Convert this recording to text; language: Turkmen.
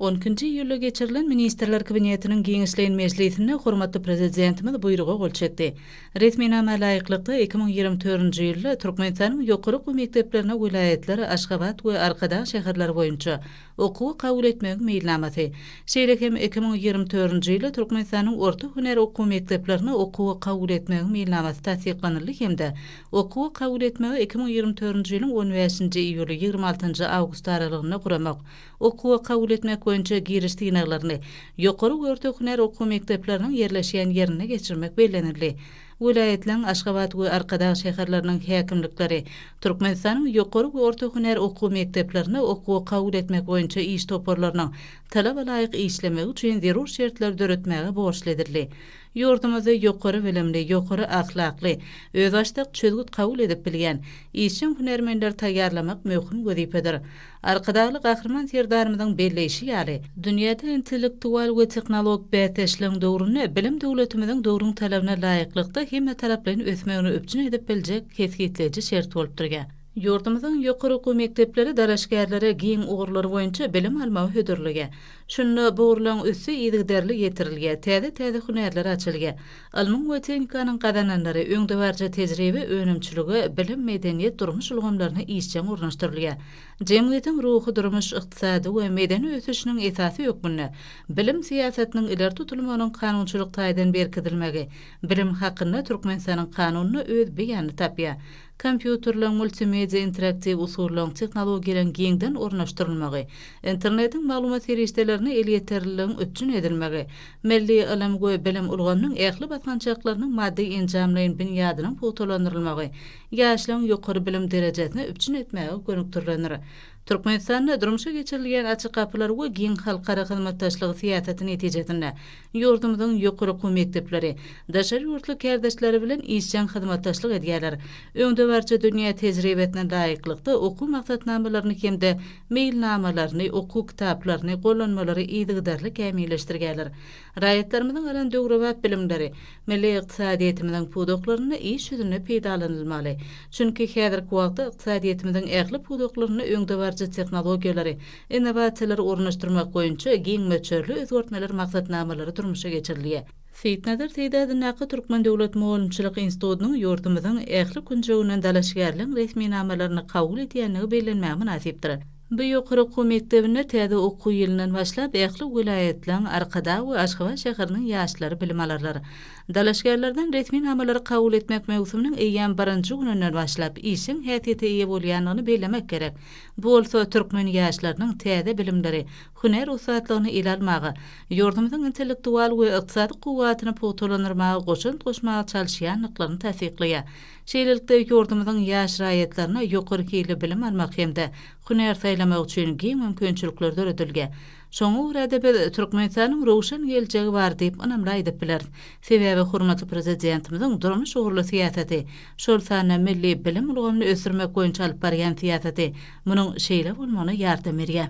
On ikinji iýulda geçirilen Ministrler Kabinetiniň giňişleýin mejlisinde hormatly Prezidentimiz Buýruga gol çekdi. Resminama laýyklykda, iki müň ýigrimi törünji ýylda Türkmenistanyň ýokary okuw mekdeplerine welaýatlar, Aşgabat we Arkadag şäherleri boýunça okuwa kabul etmegiň meýilnamasy, şeýle hem iki müň ýigrimi törünji ýylda Türkmenistanyň orta hünär okuw mekdeplerine okuwa kabul etmegiň meýilnamasy tassyklanyldy hem-de Okuwy kabul etmegi iki müň ýigrimi törünji ýylyň on bäşinji iýuly, ýigrimi altynjy awgust aralygynda guramak, okuwa kabul etmek boýunça giriş synaglaryny ýokary we orta hünär okuw mekdepleriniň ýerleşýän ýerinde geçirmek bellenildi. Welaýatlaryň, Aşgabat we Arkadag şäherleriniň häkimlikleri Türkmenistanyň ýokary we orta hünär okuw mekdeplerine okuwa kabul etmek boýunça iş toparlarynyň talaba laýyk işlemegi üçin zerur şertleri döretmäge borçly edildi. Ýurdumyzda ýokary bilimli, ýokary ahlakly, özbaşdak çözgüt kabul edip bilýän, işjeň hünärmenleri taýýarlamak möhüm wezipedir. Arkadagly Gahryman Serdarymyzyň belleýşi ýaly, dünýäde intellektual we tehnologik bäsdeşligiň döwründe bilim döwletimiziň döwrüň talabyna laýyklykda hemmetaraplaýyn ösmegini üpjün edip biljek kesgitleýji şert bolup durýar. Ýurdumyzyň ýokary okuw mekdepleri dalaşgärlere giň ugurlar boýunça bilim almagy hödürleýär. Şunda bu ugurlaryň üsti yzygiderli ýetirilýär, täze-täze hünärler açylýar. Ylmyň we tehnikanyň gazananlary öňdebaryjy tejribä, önümçilige, bilim, medeniýet, durmuş ulgamlaryna işjeň ornaşdyrylýar. Jemgyýetiň ruhy-durmuş, ykdysady we medeni ösüşiniň esasy hökmünde bilim syýasatynyň ileri tutulmagynyň kanunçylyk taýdan berkidilmegi Bilim hakynda Türkmenistanyň Kanunyna öz beýanyny tapýar. Kompýuterleň, multimedia interaktiw usullaryň, tehnologiýalaryň giňden ornaşdyrylmagy, Internetiň maglumat serişdelerine elýeterliligiň üpjün edilmegi, milli ylym we bilim ulgamynyň ähli basgançaklarynyň maddy-enjamlaýyn binýadynyň pugtalandyrylmagy ýaşlaryň ýokary bilim derejesini üpjün etmäge gönükdirilendir. Türkmenistanda durmuşa geçirilýän Açyk gapylar we giň halkara hyzmatdaşlygy syýasaty netijesinde, ýurdumyzyň ýokary okuw mekdepleri daşary ýurtly kärdeşleri bilen işjeň hyzmatdaşlyk edýärler, öňdebaryjy dünýä tejribesine laýyklykda okuw maksatnamalaryny hem-de meýilnamalaryny, okuw kitaplaryny, gollanmalary yzygiderli kämilleşdirýärler. Raýatlarymyzyň alan döwrebap bilimleri milli ykdysadyýetimiziň pudaklarynda iş ýüzünde peýdalanylmaly. Çünki häzirki wagtda ykdysadyýetimiziň ähli pudaklarynda öňdebaryjy tehnologiýalary, innowasiýalary ornaşdyrmak boýunça giň möçberli özgertmeler maksatnamalary durmuşa geçirilýär. Seýitnazar Seýdi adyndaky Türkmen döwlet mugallymçylyk institutynyň ýurdumyzyň ähli künjeginden dalaşgärligiň resminamalaryny kabul edýändigi bellenmäge mynasypdyr. Bu ýokary okuw mekdebinde täze okuw ýylyndan başlap, ähli welaýatlaryň, Arkadag we Aşgabat şäheriniň ýaşlary bilim alarlar. Dalaşgärlerden resminamalary kabul etmek möwsüminiň eýýäm birinji gününden başlap, işjeň häsiýete eýe bolýandygyny bellemek gerek. Bu bolsa türkmen ýaşlarynyň täze bilimleri, hünär ussatlygyny ele almaga, ýurdumyzyň intellektual we ykdysady kuwwatyny pugtalandyrmaga goşant goşmaga çalyşýandyklaryny tassyklaýar. Şeýlelikde, ýurdumyzyň ýaş raýatlaryna ýokary hilli bilim almak hem-de hünär saýlamak üçin giň mümkinçilikler döredildi. Şoňa görä-de, biz Türkmenistanyň röwşen geljegi bar diýip ynamly aýdyp bileris. Sebäbi hormatly Prezidentimiziň durmuş ugurly syýasaty, şol sanda milli bilim ulgamyny ösdürmek boýunça alyp barýan syýasaty munuň şeýle bolmagyna ýardam berýär.